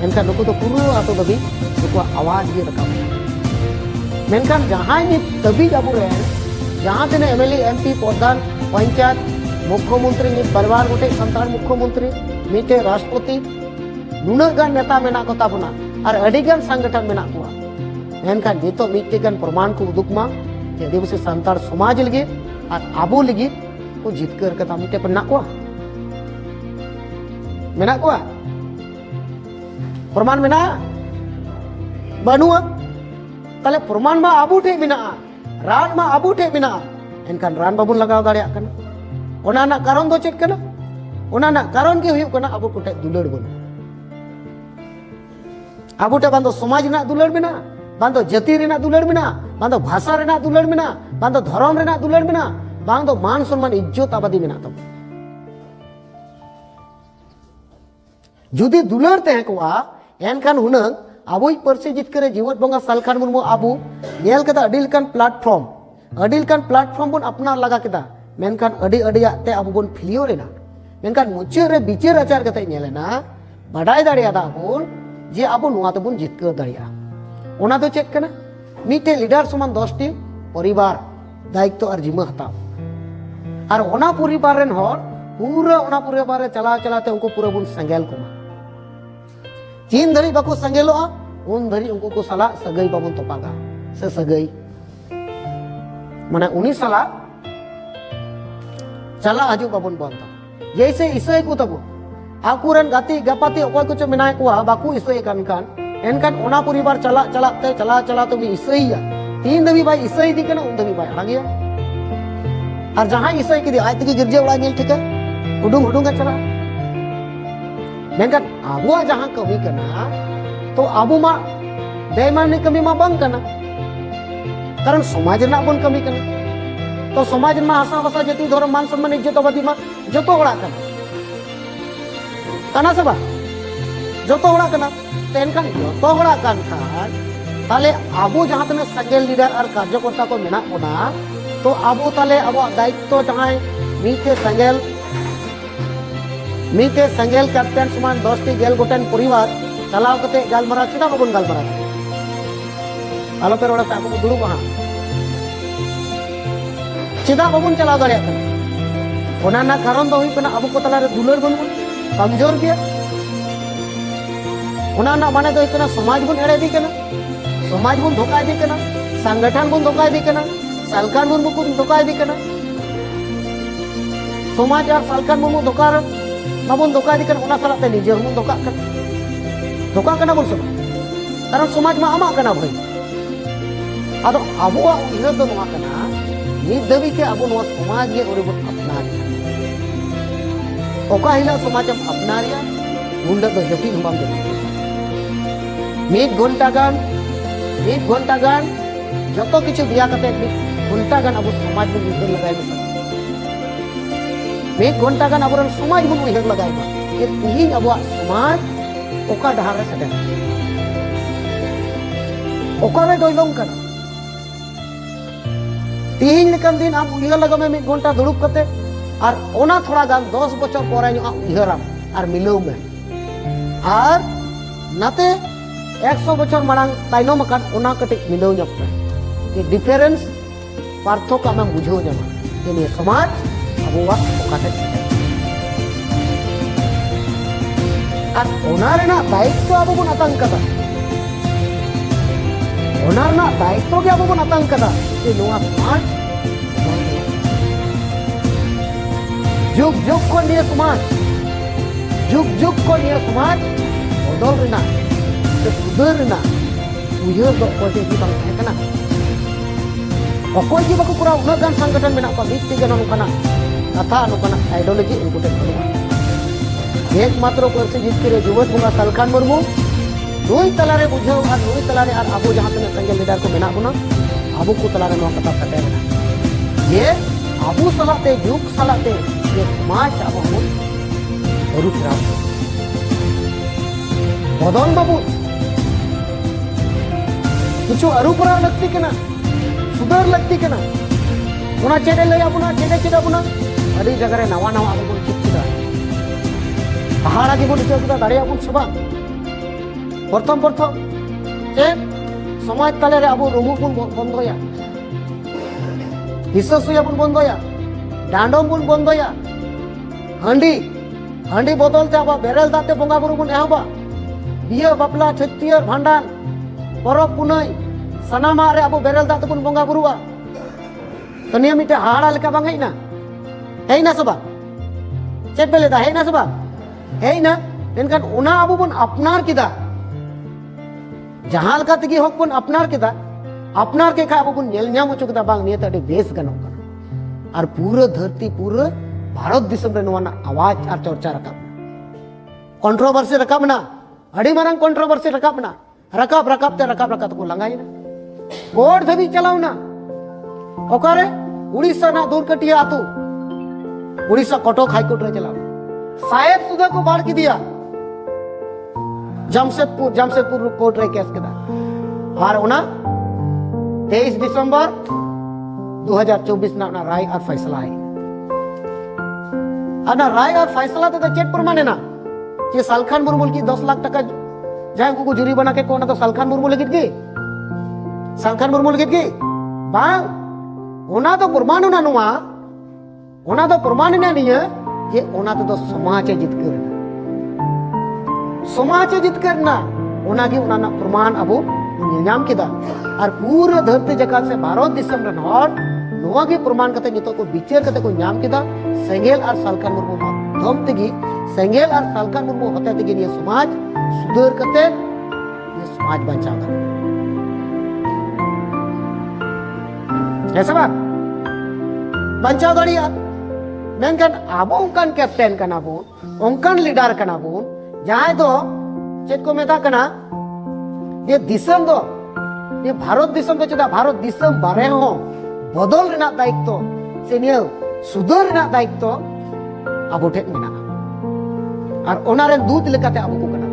ᱢᱮᱱᱠᱷᱟᱱ ᱱᱩᱠᱩ ᱫᱚ ᱯᱩᱨᱟᱹ ᱟᱛᱳ ᱫᱷᱟᱹᱵᱤᱡ ᱱᱩᱠᱩᱣᱟᱜ ᱟᱣᱟᱡᱽ ᱜᱮ ᱨᱟᱠᱟᱵ ᱢᱮᱱᱠᱷᱟᱱ ᱡᱟᱦᱟᱸᱭ ᱱᱤᱛ ᱫᱷᱟᱹᱵᱤᱡ ᱟᱵᱚᱨᱮᱱ ᱡᱟᱦᱟᱸ ᱛᱤᱱᱟᱹᱜ M L A M P ᱯᱨᱚᱫᱷᱟᱱ ᱯᱚᱧᱪᱟᱭᱮᱛ ᱢᱩᱠᱷᱭᱚᱢᱚᱱᱛᱨᱤ ᱱᱤᱛ ᱵᱟᱨᱵᱟᱨ ᱜᱚᱴᱮᱡ ᱥᱟᱱᱛᱟᱲ ᱢᱩᱠᱷᱭᱚᱢᱚᱱᱛᱨᱤ ᱢᱤᱫᱴᱮᱡ ᱨᱟᱥᱴᱨᱚᱯᱚᱛᱤ ᱱᱩᱱᱟᱹᱜ ᱜᱟᱱ ᱱᱮᱛᱟ ᱢᱮᱱᱟᱜ ᱠᱚ ᱛᱟᱵᱚᱱᱟ ᱟᱨ ᱟᱹᱰᱤ ᱜᱟᱱ ᱥᱟᱝᱜᱚᱴᱷᱚᱱ ᱢᱮᱱᱟᱜ ᱠᱚᱣᱟ ᱢᱮᱱᱠᱷᱟᱱ ᱱᱤᱛᱚᱜ ᱢᱤᱫᱴᱮᱡ ᱜᱟᱱ ᱯᱨᱚᱢᱟᱱ ᱠᱚ ᱩᱫᱩᱜ ᱢᱟ ᱡᱮ ᱟᱹᱫᱤᱵᱟᱹᱥᱤ ᱥᱟᱱᱛᱟᱲ ᱥᱚᱢᱟᱡᱽ ᱞᱟᱹᱜᱤᱫ ᱟᱨ ᱟᱵᱚ ᱞᱟᱹᱜᱤᱫ ᱠᱚ ᱡᱤᱛᱠᱟᱹᱨ ᱠᱟᱫᱟ ᱢᱤᱫᱴᱮᱡ ᱢᱮᱱᱟᱜ ᱠᱚᱣᱟ ᱢᱮᱱᱟᱜ ᱠᱚᱣᱟ ᱯᱨᱚᱢᱟᱱ ᱢᱮᱱᱟᱜᱼᱟ ᱵᱟᱹᱱᱩᱜᱼᱟ ᱛᱟᱦᱞᱮ ᱯᱨᱚᱢᱟᱱ ᱢᱟ ᱟᱵᱚ ᱴᱷᱮᱡ ᱢᱮᱱᱟᱜᱼᱟ ᱨᱟᱱ ᱢᱟ ᱟᱵᱚ ᱴᱷᱮᱡ ᱢᱮᱱᱟᱜᱼᱟ ᱮᱱᱠᱷᱟᱱ ᱨᱟᱱ ᱵᱟᱵᱚᱱ ᱞᱟᱜᱟᱣ ᱫᱟᱲᱮᱭᱟᱜ ᱠᱟᱱᱟ ᱚᱱᱟ ᱨᱮᱱᱟᱜ ᱠᱟᱨᱚᱱ ᱫᱚ ᱪᱮᱫ ᱠᱟᱱᱟ ᱚᱱᱟ ᱨᱮᱱᱟᱜ ᱠᱟᱨᱚᱱ ᱜᱮ ᱦᱩᱭᱩᱜ ᱠᱟᱱᱟ ᱟᱵᱚ ᱠᱚᱴᱷᱮᱡ ᱫᱩᱞᱟᱹᱲ ᱵᱟᱹᱱᱩᱜᱼᱟ ᱟᱵᱚ ᱴᱷᱮᱡ ᱵᱟᱝ ᱫᱚ ᱥᱚᱢᱟᱡᱽ ᱨᱮᱱᱟᱜ ᱫᱩᱞᱟᱹᱲ ᱢᱮᱱᱟᱜᱼᱟ ᱵᱟᱝ ᱫᱚ ᱡᱟᱹᱛᱤ ᱨᱮᱱᱟᱜ ᱫᱩᱞᱟᱹᱲ ᱢᱮᱱᱟᱜᱼᱟ ᱵᱟᱝ ᱫᱚ ᱵᱷᱟᱥᱟ ᱨᱮᱱᱟᱜ ᱫᱩᱞᱟᱹᱲ ᱢᱮᱱᱟᱜᱼᱟ ᱵᱟᱝ ᱫᱚ ᱫᱷᱚᱨᱚᱢ ᱨᱮᱱᱟᱜ ᱫᱩᱞᱟᱹᱲ ᱢᱮᱱᱟᱜᱼᱟ ᱵᱟᱝ ᱫᱚ ᱢᱟᱱ ᱥᱚᱱᱢᱟᱱ ᱤᱡᱽᱡᱚᱛ ᱟᱵᱟᱫᱤ ᱢᱮᱱᱟᱜ ᱛᱟᱵᱚᱱᱟ ᱡᱩᱫᱤ ᱫᱩᱞᱟᱹᱲ ᱛᱟᱦᱮᱸ ᱠᱚᱜᱼᱟ ᱮᱱᱠᱷᱟᱱ ᱦᱩᱱᱟᱹᱝ ᱟᱵᱚᱭᱤᱡ ᱯᱟᱹᱨᱥᱤ ᱡᱤᱛᱠᱟᱹᱨᱮ ᱡᱤᱣᱮᱫ ᱵᱚᱸᱜᱟ ᱥᱟᱞᱠᱷᱟᱱ ᱢᱩᱨᱢᱩ ᱟᱵᱚ ᱧᱮᱞ ᱠᱮᱫᱟ ᱟᱹᱰᱤ ᱞᱮᱠᱟᱱ ᱯᱞᱟᱴᱯᱷᱨᱚᱢ ᱟᱹᱰᱤ ᱞᱮᱠᱟᱱ ᱯᱞᱟᱴᱯᱷᱨᱚᱢ ᱵᱚᱱ ᱟᱯᱱᱟᱨ ᱞᱟᱜᱟ ᱠᱮᱫᱟ ᱢᱮᱱᱠᱷᱟᱱ ᱟᱹᱰᱤ ᱟᱹᱰᱤᱭᱟᱜ ᱛᱮ ᱟᱵᱚ ᱵᱚᱱ ᱯᱷᱤᱞᱤᱭᱳᱨ ᱮᱱᱟ ᱢᱮᱱᱠᱷᱟᱱ ᱢᱩᱪᱟᱹᱫ ᱨᱮ ᱵᱤᱪᱟᱹᱨ ᱟᱪᱟᱨ ᱠᱟᱛᱮ ᱧᱮᱞᱮᱱᱟ ᱵᱟᱰᱟᱭ ᱫᱟᱲᱮᱭᱟᱫᱟ ᱵᱚᱱ ᱡᱮ ᱟᱵᱚ ᱱᱚᱣᱟ ᱛᱮᱵᱚᱱ ᱡᱤᱛᱠᱟᱹᱨ ᱫᱟᱲᱮᱭᱟᱜᱼᱟ ᱚᱱᱟ ᱫᱚ ᱪᱮᱫ ᱠᱟᱱᱟ ᱢᱤᱫᱴᱮᱱ ᱞᱤᱰᱟᱨ ᱥᱚᱢᱟᱱ ᱫᱚᱥᱴᱤ ᱯᱚᱨᱤᱵᱟᱨ ᱫᱟᱭᱤᱛᱛᱚ ᱟᱨ ᱡᱤᱢᱟᱹ ᱦᱟᱛᱟᱣ ᱟᱨ ᱚᱱᱟ ᱯᱚᱨᱤᱵᱟᱨ ᱨᱮᱱ ᱦᱚᱲ ᱯᱩᱨᱟᱹ ᱚᱱᱟ ᱯᱚᱨᱤᱵᱟᱨ ᱨᱮ ᱪᱟᱞᱟᱣ ᱪᱟᱞᱟᱣ ᱛᱮ ᱩᱱᱠᱩ ᱯᱩᱨᱟᱹ ᱵᱚᱱ ᱥᱮᱸᱜᱮᱞ ᱠᱚᱢᱟ ᱛᱤᱱ ᱫᱷᱟᱹᱨᱤᱡ ᱵᱟᱠᱚ ᱥᱮᱸᱜᱮᱞᱚᱜᱼᱟ ᱩᱱ ᱫᱷᱟᱹᱨᱤᱡ ᱩᱱᱠᱩ ᱠᱚ ᱥᱟᱞᱟᱜ ᱥᱟᱹᱜᱟᱹᱭ ᱵᱟᱵᱚᱱ ᱛᱚᱯᱟᱜᱟ ᱥᱮ ᱥᱟᱹᱜᱟᱹᱭ ᱢᱟᱱᱮ ᱩᱱᱤ ᱥᱟᱞᱟᱜ ᱪᱟᱞᱟᱜ ᱦᱤᱡᱩᱜ ᱵᱟᱵᱚᱱ ᱵᱚᱱᱫᱟ ᱡᱮᱭᱥᱮ ᱤᱥᱚᱭ ᱠᱚ ᱛᱟᱵᱚ ᱟᱠᱚᱨᱮᱱ ᱜᱟᱛᱮ ᱜᱟᱯᱟᱛᱮ ᱚᱠᱚᱭ ᱠᱚᱪᱚ ᱢᱮᱱᱟᱭ ᱠᱚᱣᱟ ᱵᱟᱠᱚ ᱤᱥᱚᱭ ᱠᱟᱱ ᱠᱟᱱ ᱮᱱᱠᱷᱟᱱ ᱚᱱᱟ ᱯᱚᱨᱤᱵᱟᱨ ᱪᱟᱞᱟᱜ ᱪᱟᱞᱟᱜ ᱛᱮ ᱪᱟᱞᱟᱣ ᱪᱟᱞᱟᱣ ᱛᱮ ᱩᱱᱤ ᱤᱥᱚᱭᱮᱭᱟ ᱛᱤᱱ ᱫᱷᱟᱹᱵᱤᱡ ᱵᱟᱭ ᱤᱥᱚᱭ ᱤᱫᱤ ᱠᱟᱱᱟ ᱩᱱ ᱫᱷᱟᱹᱵᱤᱡ ᱵᱟᱭ ᱟᱲᱟᱜᱮᱭᱟ ᱟᱨ ᱡᱟᱦᱟᱸᱭ ᱤᱥᱚᱭ ᱠᱮᱫᱮ ᱟᱡ ᱛᱮᱜᱮ ᱜᱤᱨᱡᱟᱹ ᱚᱲᱟᱜ ᱧᱮᱞ ᱴᱷᱤᱠᱟ ᱩᱰᱩᱝ ᱩᱰᱩᱝ ᱮ ᱪᱟᱞᱟᱜᱼᱟ ᱢᱮᱱᱠᱷᱟᱱ ᱟᱵᱚᱣᱟᱜ ᱡᱟᱦᱟᱸ ᱠᱟᱹᱢᱤ ᱠᱟᱱᱟ ᱛᱚ ᱟᱵᱚ ᱢᱟ ᱵᱮᱢᱟᱱᱤ ᱠᱟᱹᱢᱤ ᱢᱟ ᱵᱟᱝ ᱠᱟᱱᱟ ᱠᱟᱨᱚᱱ ᱥᱚᱢᱟᱡᱽ ᱨᱮᱱᱟᱜ ᱵᱚᱱ ᱠᱟᱹᱢᱤ ᱠᱟᱱᱟ ᱛᱚ ᱥᱚᱢᱟᱡᱽ ᱨᱮᱱᱟᱜ ᱦᱟᱥᱟ ᱵᱷᱟᱥᱟ ᱡᱟᱹᱛᱤ ᱫᱷᱚᱨᱚᱢ ᱢᱟᱱ ᱥᱚᱱᱢᱟᱱ ᱤᱡᱽᱡᱚᱛ ᱟᱵᱟᱫᱤ ᱢᱟ ᱡᱚᱛᱚ ᱦᱚᱲᱟᱜ ᱠᱟᱱᱟ ᱠᱟᱱᱟ ᱥᱮ ᱵᱟᱝ ᱡᱚᱛᱚ ᱦᱚᱲᱟᱜ ᱠᱟᱱᱟ ᱛᱚ ᱮᱱᱠᱷᱟᱱ ᱡᱚᱛᱚ ᱦᱚᱲᱟᱜ ᱠᱟᱱ ᱠᱷᱟᱱ ᱛᱟᱦᱞᱮ ᱟᱵᱚ ᱡᱟᱦᱟᱸ ᱛᱤᱱᱟᱹᱜ ᱥᱟᱸᱜᱮᱞ ᱞᱤᱰᱟᱨ ᱟᱨ ᱠᱟᱨᱡᱚᱠᱚᱨᱛᱟ ᱠᱚ ᱢᱮᱱᱟᱜ ᱵᱚᱱᱟ ᱛᱚ ᱟᱵᱚ ᱛᱟᱦᱞᱮ ᱟᱵᱚᱣᱟᱜ ᱫᱟᱭᱤᱛᱛᱚ ᱡᱟᱦᱟᱸᱭ ᱢᱤᱫᱴᱮᱡ ᱥᱟᱸᱜᱮᱞ ᱢᱤᱫᱴᱮᱡ ᱥᱮᱸᱜᱮᱞ ᱠᱮᱯᱴᱮᱱ ᱥᱚᱢᱟᱱ ᱫᱚᱥᱴᱤ ᱜᱮᱞ ᱜᱚᱴᱮᱱ ᱯᱚᱨᱤᱵᱟᱨ ᱪᱟᱞᱟᱣ ᱠᱟᱛᱮ ᱜᱟᱞᱢᱟᱨᱟᱣ ᱪᱮᱫᱟᱜ ᱵᱟᱵᱚᱱ ᱜᱟᱞᱢᱟᱨᱟᱣ ᱟᱞᱚᱯᱮ ᱨᱚᱲᱟ ᱟᱠᱚ ᱠᱚ ᱫᱩᱲᱩᱵ ᱦᱟᱸᱜ ᱪᱮᱫᱟᱜ ᱵᱟᱵᱚᱱ ᱪᱟᱞᱟᱣ ᱫᱟᱲᱮᱭᱟᱜ ᱠᱟᱱᱟ ᱚᱱᱟ ᱨᱮᱱᱟᱜ ᱠᱟᱨᱚᱱ ᱫᱚ ᱦᱩᱭᱩᱜ ᱠᱟᱱᱟ ᱟᱵᱚ ᱠᱚ ᱛᱟᱞᱟᱨᱮ ᱫᱩᱞᱟᱹᱲ ᱵᱟᱹᱱᱩᱜᱼᱟ ᱠᱚᱢᱡᱳᱨ ᱜᱮᱭᱟ ᱚᱱᱟ ᱨᱮᱱᱟᱜ ᱢᱟᱱᱮ ᱫᱚ ᱦᱩᱭᱩᱜ ᱠᱟᱱᱟ ᱥᱚᱢᱟᱡᱽ ᱵᱚᱱ ᱮᱲᱮ ᱤᱫᱤ ᱠᱟᱱᱟ ᱥᱚᱢᱟᱡᱽ ᱵᱚᱱ ᱫᱷᱳᱠᱟ ᱤᱫᱤ ᱠᱟᱱᱟ ᱥᱟᱝᱜᱟᱴᱷᱟᱱ ᱵᱚᱱ ᱫᱷᱳᱠᱟ ᱤᱫᱤ ᱠᱟᱱᱟ ᱥᱟᱞᱠᱟᱱ ᱵᱚᱱ ᱫᱷᱳᱠᱟ ᱤᱫᱤ ᱠᱟᱱᱟ ᱥᱚᱢᱟᱡᱽ ᱟᱨ ᱥᱟᱞᱠᱷᱟᱱ ᱢᱩᱨᱢᱩ ᱫᱷᱳᱠᱟ ᱨᱮ ᱵᱟᱵᱚᱱ ᱫᱷᱳᱠᱟᱭᱮᱫᱮ ᱠᱟᱱᱟ ᱚᱱᱟ ᱥᱟᱞᱟᱜ ᱛᱮ ᱱᱤᱡᱮ ᱦᱚᱸᱵᱚᱱ ᱫᱷᱳᱠᱟᱜ ᱠᱟᱱᱟ ᱫᱷᱳᱠᱟ ᱠᱟᱱᱟ ᱵᱚᱱ ᱥᱮ ᱵᱟᱝ ᱠᱟᱨᱚᱱ ᱥᱚᱢᱟᱡᱽ ᱢᱟ ᱟᱢᱟᱜ ᱠᱟᱱᱟ ᱵᱷᱟᱹᱭ ᱟᱫᱚ ᱟᱵᱚᱣᱟᱜ ᱩᱭᱦᱟᱹᱨ ᱫᱚ ᱱᱚᱣᱟ ᱠᱟᱱᱟ ᱱᱤᱛ ᱫᱷᱟᱹᱵᱤᱡ ᱛᱮ ᱟᱵᱚ ᱱᱚᱣᱟ ᱥᱚᱢᱟᱡᱽ ᱜᱮ ᱟᱹᱣᱨᱤ ᱵᱚᱱ ᱟᱯᱱᱟᱨᱮᱫ ᱚᱠᱟ ᱦᱤᱞᱳᱜ ᱥᱚᱢᱟᱡᱽ ᱮᱢ ᱟᱯᱱᱟᱨᱮᱫᱼᱟ ᱩᱱ ᱦᱤᱞᱳᱜ ᱫᱚ ᱡᱟᱹᱯᱤᱫ ᱦᱚᱸ ᱵᱟᱢ ᱡᱟᱹᱯᱤᱫ ᱢᱤᱫ ᱜᱷᱚᱱᱴᱟ ᱜᱟᱱ ᱢᱤᱫ ᱜᱷᱚᱱᱴᱟ ᱜᱟᱱ ᱡᱚᱛᱚ ᱠᱤᱪᱷᱩ ᱫᱮᱭᱟ ᱠᱟᱛᱮ ᱢᱤᱫ ᱜᱷᱚᱱᱴᱟ ᱜᱟᱱ ᱟᱵᱚ ᱥᱚᱢᱟᱡᱽ ᱵᱚᱱ ᱩᱭᱦᱟᱹᱨ ᱞᱟᱜᱟᱭ ᱢᱟ ᱢᱤᱫ ᱜᱷᱚᱱᱴᱟ ᱜᱟᱱ ᱟᱵᱚᱨᱮᱱ ᱥᱚᱢᱟᱡᱽ ᱵᱚᱱ ᱩᱭᱦᱟᱹᱨ ᱞᱟᱜᱟᱭ ᱢᱟ ᱡᱮ ᱛᱤᱦᱤᱧ ᱟᱵᱚᱣᱟᱜ ᱥᱚᱢᱟᱡᱽ ᱚᱠᱟ ᱰᱟᱦᱟᱨ ᱨᱮ ᱥᱮᱴᱮᱨ ᱚᱠᱟᱨᱮ ᱰᱚᱭᱞᱚᱝ ᱠᱟᱱᱟ ᱛᱤᱦᱤᱧ ᱞᱮᱠᱟᱱ ᱫᱤᱱ ᱟᱢ ᱩᱭᱦᱟᱹᱨ ᱞᱟᱜᱟᱣ ᱢᱮ ᱢᱤᱫ ᱜᱷᱚᱱᱴᱟ ᱫᱩᱲᱩᱵ ᱠᱟᱛᱮ ᱟᱨ ᱚᱱᱟ ᱛᱷᱚᱲᱟ ᱜᱟᱱ ᱫᱚᱥ ᱵᱚᱪᱷᱚᱨ ᱯᱚᱨᱮ ᱧᱚᱜ ᱩᱭᱦᱟᱹᱨᱟᱢ ᱟᱨ ᱢᱤᱞᱟᱹᱣ ᱢᱮ ᱟᱨ ᱱᱟᱛᱮ ᱮᱠᱥᱚ ᱵᱚᱪᱷᱚᱨ ᱢᱟᱲᱟᱝ ᱛᱟᱭᱱᱚᱢ ᱟᱠᱟᱱ ᱚᱱᱟ ᱠᱟᱹᱴᱤᱡ ᱢᱤᱞᱟᱹᱣ ᱧᱚᱜ ᱯᱮ ᱡᱮ ᱰᱤᱯᱷᱟᱨᱮᱱᱥ ᱯᱟᱨᱛᱷᱚᱠ ᱟᱢᱮᱢ ᱵᱩᱡᱷᱟᱹᱣ ᱧᱟᱢᱟ ᱡᱮ ᱱᱤᱭᱟᱹ ᱥᱚᱢᱟᱡᱽ ᱟᱵᱚᱣᱟᱜ ᱚᱠᱟᱴᱷᱮ ᱥᱮᱴᱮᱨ ᱟᱨ ᱚᱱᱟ ᱨᱮᱱᱟᱜ ᱫᱟᱭᱤᱛᱛᱚ ᱟᱵᱚ ᱵᱚᱱ ᱟᱛᱟᱝ ᱠᱟᱫᱟ ᱚᱱᱟ ᱨᱮᱱᱟᱜ ᱫᱟᱭᱤᱛᱛᱚ ᱜᱮ ᱟᱵᱚ ᱵᱚᱱ ᱟᱛᱟᱝ ᱠᱟᱫᱟ ᱡᱮ ᱱᱚᱣᱟ ᱥᱚᱢᱟᱡᱽ ᱡᱩᱜᱽ ᱡᱩᱜᱽ ᱠᱷᱚᱱ ᱱᱤᱭᱟᱹ ᱥᱚᱢᱟᱡᱽ ᱡᱩᱜᱽ ᱡᱩᱜᱽ ᱠᱷᱚᱱ ᱱᱤᱭᱟᱹ ᱥᱚᱢᱟᱡᱽ ᱵᱚᱫᱚᱞ ᱨᱮᱱᱟᱜ ᱥᱮ ᱥᱩᱫᱷᱟᱹᱨ ᱨᱮᱱᱟᱜ ᱩᱭᱦᱟᱹᱨ ᱫᱚ ᱚᱠᱚᱭ ᱴᱷᱮᱱ ᱜᱮ ᱵᱟᱝ ᱛᱟᱦᱮᱸ ᱠᱟᱱᱟ ᱚᱠᱚᱭ ᱜᱮ ᱵᱟᱠᱚ ᱠᱚᱨᱟᱣ ᱩᱱᱟᱹᱜ ᱜᱟᱱ ᱥᱚᱝᱜᱚᱴᱷᱚᱱ ᱢᱮᱱᱟᱜ ᱠᱚᱣᱟ ᱢᱤᱫ ᱛᱮᱜᱮ ᱱᱚᱝᱠᱟᱱᱟᱜ ᱠᱟᱛᱷᱟ ᱱᱚᱝᱠᱟᱱᱟᱜ ᱟᱭᱰᱤᱭᱳᱞᱚᱡᱤ ᱩᱱᱠᱩ ᱴᱷᱮᱱ ᱵᱟᱹᱱᱩᱜᱼᱟ ᱮᱠᱢᱟᱛᱨ ᱯᱟᱹᱨᱥᱤ ᱡᱤᱛᱠᱟᱹᱨ ᱡᱩᱣᱟᱹᱱ ᱵᱚᱸᱜᱟ ᱥᱟᱞᱠᱷᱟᱱ ᱢᱩᱨᱢᱩ ᱱᱩᱭ ᱛᱟᱞᱟᱨᱮ ᱵᱩᱡᱷᱟᱹᱣ ᱟᱨ ᱱᱩᱭ ᱛᱟᱞᱟᱨᱮ ᱟᱨ ᱟᱵᱚ ᱡᱟᱦᱟᱸ ᱛᱤᱱᱟᱹᱜ ᱥᱟᱸᱜᱮ ᱞᱤᱰᱟᱨ ᱠᱚ ᱢᱮᱱᱟᱜ ᱵᱚᱱᱟ ᱟᱵᱚ ᱠᱚ ᱛᱟᱞᱟᱨᱮ ᱱᱚᱣᱟ ᱠᱟᱛᱷᱟ ᱥᱮᱴᱮᱨ ᱮᱱᱟ ᱡᱮ ᱟᱵᱚ ᱥᱟᱞᱟᱜ ᱛᱮ ᱡᱩᱜᱽ ᱥᱟᱞᱟᱜ ᱛᱮ ᱡᱮ ᱥᱚᱢᱟᱡᱽ ᱟᱵᱚ ᱵᱚᱱ ᱟᱹᱨᱩ ᱯᱷᱮᱨᱟᱣ ᱵᱚᱫᱚᱞ ᱵᱟᱵᱚ ᱠᱤᱪᱷᱩ ᱟᱹᱨᱩ ᱯᱷᱮᱨᱟᱣ ᱞᱟᱹᱠᱛᱤ ᱠᱟᱱᱟ ᱥᱩᱫᱷᱟᱹᱨ ᱞᱟᱹᱠᱛᱤ ᱠᱟᱱᱟ ᱚᱱᱟ ᱪᱮᱫ ᱮ ᱞᱟᱹᱭ ᱟᱵᱚᱱᱟ ᱪᱮᱫ ᱮ ᱪᱮᱫ ᱟᱵᱚᱱᱟ ᱟᱹᱰᱤ ᱡᱟᱭᱜᱟ ᱨᱮ ᱱᱟᱣᱟ ᱱᱟᱣᱟ ᱟᱵᱚ ᱵᱚᱱ ᱪᱮᱫ ᱠᱮᱫᱟ ᱦᱟᱦᱟᱲᱟ ᱜᱮᱵᱚᱱ ᱟᱹᱭᱠᱟᱹᱣ ᱠᱮᱫᱟ ᱫᱟᱲᱮᱭᱟᱜ ᱵᱚᱱ ᱥᱮ ᱵᱟᱝ ᱯᱨᱚᱛᱷᱚᱢ ᱯᱨᱚᱛᱷᱚᱢ ᱪᱮᱫ ᱥᱚᱢᱟᱡᱽ ᱛᱟᱞᱮ ᱨᱮ ᱟᱵᱚ ᱨᱩᱢᱩᱜ ᱵᱚᱱ ᱵᱚᱱᱫᱚᱭᱟ ᱦᱤᱥᱟᱹ ᱥᱩᱭᱟ ᱵᱚᱱ ᱵᱚᱱᱫᱚᱭᱟ ᱰᱟᱸᱰᱚᱢ ᱵᱚᱱ ᱵᱚᱱᱫᱚᱭᱟ ᱦᱟᱺᱰᱤ ᱦᱟᱺᱰᱤ ᱵᱚᱫᱚᱞ ᱛᱮ ᱟᱵᱚᱣᱟᱜ ᱵᱮᱨᱮᱞ ᱫᱟᱜ ᱛᱮ ᱵᱚᱸᱜᱟ ᱵᱩᱨᱩ ᱵᱚᱱ ᱮᱦᱚᱵᱟ ᱵᱤᱭᱟᱹ ᱵᱟᱯᱞᱟ ᱪᱷᱟᱹᱴᱭᱟᱹᱨ ᱵᱷᱟᱸᱰᱟᱱ ᱯᱚᱨᱚᱵᱽ ᱯᱩᱱᱟᱹᱭ ᱥᱟᱱᱟᱢᱟᱜ ᱨᱮ ᱟᱵᱚ ᱵᱮᱨᱮᱞ ᱫᱟᱜ ᱛᱮᱵᱚᱱ ᱵᱚᱸᱜᱟ ᱵᱩᱨᱩᱜᱼᱟ ᱛᱚ ᱱᱤᱭᱟᱹ ᱢᱤᱫᱴᱮᱱ ᱦᱟᱦᱟᱲᱟ ᱞᱮᱠᱟ ᱵᱟᱝ ᱦᱮᱡ ᱮᱱᱟ ᱦᱮᱡ ᱮᱱᱟ ᱥᱮ ᱵᱟᱝ ᱪᱮᱫ ᱯᱮ ᱞᱟᱹᱭᱫᱟ ᱦᱮᱡ ᱮᱱᱟ ᱥᱮ ᱵᱟᱝ ᱦᱮᱡ ᱮᱱᱟ ᱢᱮᱱᱠᱷᱟᱱ ᱚᱱᱟ ᱟᱵᱚ ᱵᱚᱱ ᱟᱯᱱᱟᱨ ᱠᱮᱫᱟ ᱡᱟᱦᱟᱸ ᱞᱮᱠᱟ ᱛᱮᱜᱮ ᱦᱚᱠ ᱵᱚᱱ ᱟᱯᱱᱟᱨ ᱠᱮᱫᱟ ᱟᱯᱱᱟᱨ ᱠᱮᱫ ᱠᱷᱟᱡ ᱟᱵᱚ ᱵᱚᱱ ᱧᱮᱞ ᱧᱟᱢ ᱦᱚᱪᱚ ᱠᱮᱫᱟ ᱵᱟᱝ ᱱᱤᱭᱟᱹ ᱛᱮ ᱟᱹᱰᱤ ᱵᱮᱥ ᱜᱟᱱᱚᱜ ᱠᱟᱱᱟ ᱟᱨ ᱯᱩᱨᱟᱹ ᱫᱷᱟᱹᱨᱛᱤ ᱯᱩᱨᱟᱹ ᱵᱷᱟᱨᱚᱛ ᱫᱤᱥᱚᱢ ᱨᱮ ᱱᱚᱣᱟ ᱨᱮᱱᱟᱜ ᱟᱣᱟᱡᱽ ᱟᱨ ᱪᱚᱨᱪᱟ ᱨᱟᱠᱟᱵ ᱮᱱᱟ ᱠᱚᱱᱴᱨᱳᱵᱷᱟᱨᱥᱤ ᱨᱟᱠᱟᱵ ᱮᱱᱟ ᱟᱹᱰᱤ ᱢᱟᱨᱟᱝ ᱠᱚᱱᱴᱨᱳᱵᱷᱟᱨᱥᱤ ᱨᱟᱠᱟᱵ ᱮᱱᱟ ᱨᱟᱠᱟᱵ ᱨᱟᱠᱟᱵ ᱛᱮ ᱨᱟᱠᱟᱵ ᱨᱟᱠᱟᱵ ᱛᱮᱠᱚ ᱞᱟᱸᱜᱟᱭᱮᱱᱟ ᱠᱳᱨᱴ ᱫᱷᱟᱹᱵᱤᱡ ᱪᱟᱞᱟᱣᱱᱟ ᱚᱠᱟᱨᱮ ᱩᱲᱤᱥᱥᱟ ᱨᱮᱱᱟᱜ ᱫᱩᱨᱠᱟᱹᱴᱤᱭᱟ ᱟᱛᱳ ᱩᱲᱤᱥᱥᱟ ᱠᱚᱴᱚᱠ ᱦᱟᱭᱠᱳᱨᱴ ᱨᱮ ᱪᱟᱞᱟᱣ ᱥᱟᱭᱮᱫ ᱥᱩᱫᱷᱟᱹ ᱠᱚ ᱵᱟᱲ ᱠᱮᱫᱮᱭᱟ ᱡᱟᱢᱥᱮᱫᱽᱯᱩᱨ ᱡᱟᱢᱥᱮᱫᱽᱯᱩᱨ ᱠᱳᱨᱴ ᱨᱮ ᱠᱮᱥ ᱠᱮᱫᱟ ᱟᱨ ᱚᱱᱟ 23 ᱫᱤᱥᱚᱢᱵᱚᱨ 2024 ᱨᱮᱱᱟᱜ ᱚᱱᱟ ᱨᱟᱭ ᱟᱨ ᱯᱷᱟᱭᱥᱞᱟ ᱦᱮᱡ ᱟᱨ ᱚᱱᱟ ᱨᱟᱭ ᱟᱨ ᱯᱷᱟᱭᱥᱞᱟ ᱛᱮᱫᱚ ᱪᱮᱫ ᱯᱨᱚᱢᱟᱱ ᱮᱱᱟ ᱡᱮ ᱥᱟᱞᱠᱷᱟᱱ ᱢᱩᱨᱢᱩ ᱞᱟᱹᱜᱤᱫ 10 ᱞᱟᱠᱷ ᱴᱟᱠᱟ ᱡᱟᱦᱟᱸᱭ ᱩᱱᱠᱩ ᱠᱚ ᱡᱩᱨᱤᱢᱟᱱᱟ ᱠᱮᱫ ᱠᱚᱣᱟ ᱚᱱᱟ ᱫᱚ ᱥᱟᱞᱠᱷᱟᱱ ᱢᱩᱨᱢᱩ ᱞᱟᱹᱜᱤᱫ ᱜᱮ ᱥᱟᱞᱠᱷᱟᱱ ᱢᱩᱨᱢᱩ ᱞᱟᱹᱜᱤᱫ ᱜᱮ ᱵᱟᱝ ᱚᱱᱟ ᱫᱚ ᱯᱨᱚᱢᱟᱱ ᱮᱱᱟ ᱱᱚᱣᱟ ᱚᱱᱟ ᱫᱚ ᱯᱨᱚᱢᱟᱱ ᱮᱱᱟ ᱱᱤᱭᱟᱹ ᱡᱮ ᱚᱱᱟ ᱛᱮᱫᱚ ᱥᱚᱢᱟᱡᱽ ᱮ ᱡᱤᱛᱠᱟᱹᱨ ᱮᱱᱟ ᱥᱚᱢᱟᱡᱽ ᱮ ᱡᱤᱛᱠᱟᱹᱨ ᱮᱱᱟ ᱚᱱᱟᱜᱮ ᱚᱱᱟ ᱨᱮᱱᱟᱜ ᱯᱨᱚᱢᱟᱱ ᱟᱵᱚ ᱧᱮᱞ ᱧᱟᱢ ᱠᱮᱫᱟ ᱟᱨ ᱯᱩᱨᱟᱹ ᱫᱷᱟᱹᱨᱛᱤ ᱡᱟᱠᱟᱛ ᱥᱮ ᱵᱷᱟᱨᱚᱛ ᱫᱤᱥᱚᱢ ᱨᱮᱱ ᱦᱚᱲ ᱱᱚᱣᱟ ᱜᱮ ᱯᱨᱚᱢᱟᱱ ᱠᱟᱛᱮ ᱱᱤᱛᱚᱜ ᱠᱚ ᱵᱤᱪᱟᱹᱨ ᱠᱟᱛᱮ ᱠᱚ ᱧᱟᱢ ᱠᱮᱫᱟ ᱥᱮᱸᱜᱮᱞ ᱟᱨ ᱥᱟᱞᱠᱷᱟᱱ ᱢᱩᱨᱢᱩ ᱢᱟᱫᱷᱚᱢ ᱛᱮᱜᱮ ᱥᱮᱸᱜᱮᱞ ᱟᱨ ᱥᱟᱞᱠᱷᱟᱱ ᱢᱩᱨᱢᱩ ᱦᱚᱛᱮ ᱛᱮᱜᱮ ᱱᱤᱭᱟᱹ ᱥᱚᱢᱟᱡᱽ ᱥᱩᱫᱷᱟᱹᱨ ᱠᱟᱛᱮ ᱱᱤᱭᱟᱹ ᱥᱚᱢᱟᱡᱽ ᱵᱟᱧᱪᱟᱣ ᱫᱟᱲᱮᱭᱟᱜᱼᱟ ᱦᱮᱸ ᱥᱮ ᱵᱟᱝ ᱵᱟᱧᱪᱟᱣ ᱫᱟᱲᱮᱭᱟᱜᱼᱟ ᱢᱮᱱᱠᱷᱟᱱ ᱟᱵᱚ ᱚᱱᱠᱟᱱ ᱠᱮᱯᱴᱮᱱ ᱠᱟᱱᱟ ᱵᱚᱱ ᱚᱱᱠᱟᱱ ᱞᱤᱰᱟᱨ ᱠᱟᱱᱟ ᱵᱚᱱ ᱡᱟᱦᱟᱸᱭ ᱫᱚ ᱪᱮᱫ ᱠᱚ ᱢᱮᱛᱟᱜ ᱠᱟᱱᱟ ᱡᱮ ᱫᱤᱥᱚᱢ ᱫᱚ ᱡᱮ ᱵᱷᱟᱨᱚᱛ ᱫᱤᱥᱚᱢ ᱫᱚ ᱪᱮᱫᱟᱜ ᱵᱷᱟᱨᱚᱛ ᱫᱤᱥᱚᱢ ᱵᱟᱨᱦᱮ ᱦᱚᱸ ᱵᱚᱫᱚᱞ ᱨᱮᱱᱟᱜ ᱫᱟᱭᱤᱛᱛᱚ ᱥᱮ ᱱᱤᱭᱟᱹ ᱥᱩᱫᱷᱟᱹᱨ ᱨᱮᱱᱟᱜ ᱫᱟᱭᱤᱛᱛᱚ ᱟᱵᱚ ᱴᱷᱮᱱ ᱢᱮᱱᱟᱜᱼᱟ ᱟᱨ ᱚᱱᱟᱨᱮ ᱫᱩᱛ ᱞᱮᱠᱟᱛᱮ ᱟᱵᱚ ᱠᱚ ᱠᱟᱱᱟ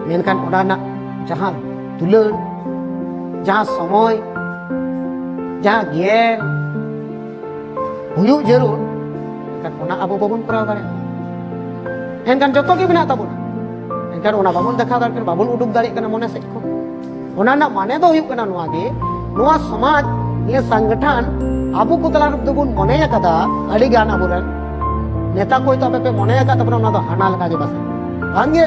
ᱢᱮᱱᱠᱷᱟᱱ ᱚᱱᱟ ᱨᱮᱱᱟᱜ ᱡᱟᱦᱟᱸ ᱫᱩᱞᱟᱹᱲ ᱡᱟᱦᱟᱸ ᱥᱚᱢᱚᱭ ᱡᱟᱦᱟᱸ ᱜᱮᱭᱟᱱ ᱦᱩᱭᱩᱜ ᱡᱟᱹᱨᱩᱲ ᱮᱱᱠᱷᱟᱱ ᱚᱱᱟ ᱟᱵᱚ ᱵᱟᱵᱚᱱ ᱠᱚᱨᱟᱣ ᱫᱟᱲᱮᱭᱟᱜᱼᱟ ᱮᱱᱠᱷᱟᱱ ᱡᱚᱛᱚ ᱜᱮ ᱢᱮᱱᱟᱜ ᱛᱟᱵᱚᱱᱟ ᱮᱱᱠᱷᱟᱱ ᱚᱱᱟ ᱵᱟᱵᱚᱱ ᱫᱮᱠᱷᱟᱣ ᱫᱟᱲᱮᱭᱟᱜ ᱠᱟᱱᱟ ᱵᱟᱵᱚᱱ ᱩᱰᱩᱠ ᱫᱟᱲᱮᱭᱟᱜ ᱠᱟᱱᱟ ᱢᱚᱱᱮ ᱥᱮᱫ ᱠᱷᱚᱱ ᱚᱱᱟ ᱨᱮᱱᱟᱜ ᱢᱟᱱᱮ ᱫᱚ ᱦᱩᱭᱩᱜ ᱠᱟᱱᱟ ᱱᱚᱣᱟ ᱜᱮ ᱱᱚᱣᱟ ᱥᱚᱢᱟᱡᱽ ᱱᱤᱭᱟᱹ ᱥᱚᱝᱜᱚᱴᱷᱚᱱ ᱟᱵᱚ ᱠᱚ ᱛᱟᱞᱟ ᱨᱮᱫᱚ ᱵᱚᱱ ᱢᱚᱱᱮ ᱟᱠᱟᱫᱟ ᱟᱹᱰᱤ ᱜᱟᱱ ᱟᱵᱚᱨᱮᱱ ᱱᱮᱛᱟ ᱠᱚ ᱦᱚᱭᱛᱳ ᱟᱯᱮ ᱯᱮ ᱢᱚᱱᱮ ᱟᱠᱟᱫ ᱛᱟᱵᱚᱱᱟ ᱚᱱᱟ ᱫᱚ ᱦᱟᱱᱟ ᱞᱮᱠᱟ ᱜᱮ ᱯᱟᱥᱮᱡ ᱵᱟᱝᱜᱮ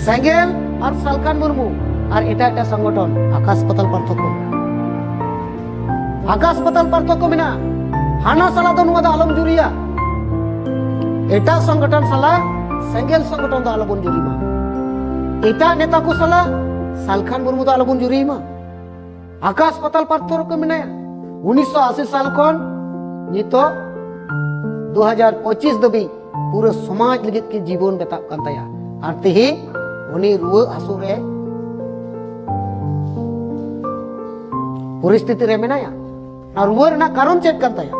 ᱥᱮᱸᱜᱮᱞ ᱟᱨ ᱥᱟᱞᱠᱟᱱ ᱢᱩᱨᱢᱩ ᱟᱨ ᱮᱴᱟᱜ ᱮᱴᱟᱜ ᱥᱚᱝᱜᱚᱴᱷᱚᱱ ᱟᱠᱟᱥ ᱯᱟᱛᱟᱞ ᱯᱟᱨᱛᱷᱚᱠᱠᱚ ᱟᱠᱟᱥ ᱯᱟᱛᱟᱞ ᱯᱟᱨᱛᱷᱚᱠᱠᱚ ᱢᱮᱱᱟᱜᱼᱟ ᱦᱟᱱᱟ ᱥᱟᱞᱟᱜ ᱫᱚ ᱱᱚᱣᱟ ᱫᱚ ᱟᱞᱚᱢ ᱡᱩᱨᱤᱭᱟ ᱮᱴᱟᱜ ᱥᱚᱝᱜᱚᱴᱷᱚᱱ ᱥᱟᱞᱟᱜ ᱥᱮᱸᱜᱮᱞ ᱥᱚᱝᱜᱚᱴᱷᱚᱱ ᱫᱚ ᱟᱞᱚᱵᱚᱱ ᱡᱩᱨᱤ ᱢᱟ ᱮᱴᱟᱜ ᱱᱮᱛᱟ ᱠᱚ ᱥᱟᱞᱟᱜ ᱥᱟᱞᱠᱷᱟᱱ ᱢᱩᱨᱢᱩ ᱫᱚ ᱟᱞᱚᱵᱚᱱ ᱡᱩᱨᱤ ᱢᱟ ᱟᱠᱟᱥ ᱯᱟᱛᱟᱞ ᱯᱟᱨᱛᱷᱚ ᱨᱮᱠᱚ ᱢᱮᱱᱟᱭᱟ ᱩᱱᱤᱥᱥᱚ ᱟᱥᱤ ᱥᱟᱞ ᱠᱷᱚᱱ ᱱᱤᱛᱚᱜ ᱫᱩ ᱦᱟᱡᱟᱨ ᱯᱚᱸᱪᱤᱥ ᱫᱷᱟᱹᱵᱤᱡ ᱯᱩᱨᱟᱹ ᱥᱚᱢᱟᱡᱽ ᱞᱟᱹᱜᱤᱫ ᱠᱤᱱ ᱡᱤᱵᱚᱱ ᱵᱮᱛᱟᱜ ᱠᱟᱱ ᱛᱟᱭᱟ ᱟᱨ ᱛᱮᱦᱮᱧ ᱩᱱᱤ ᱨᱩᱣᱟᱹ ᱦᱟᱹᱥᱩ ᱨᱮ ᱯᱚᱨᱤᱥᱛᱷᱤᱛᱤ ᱨᱮ ᱢᱮᱱᱟᱭᱟ ᱟᱨ ᱨᱩᱣᱟᱹ ᱨᱮᱱᱟᱜ ᱠᱟᱨᱚᱱ ᱪᱮᱫ ᱠᱟᱱ ᱛᱟᱭᱟ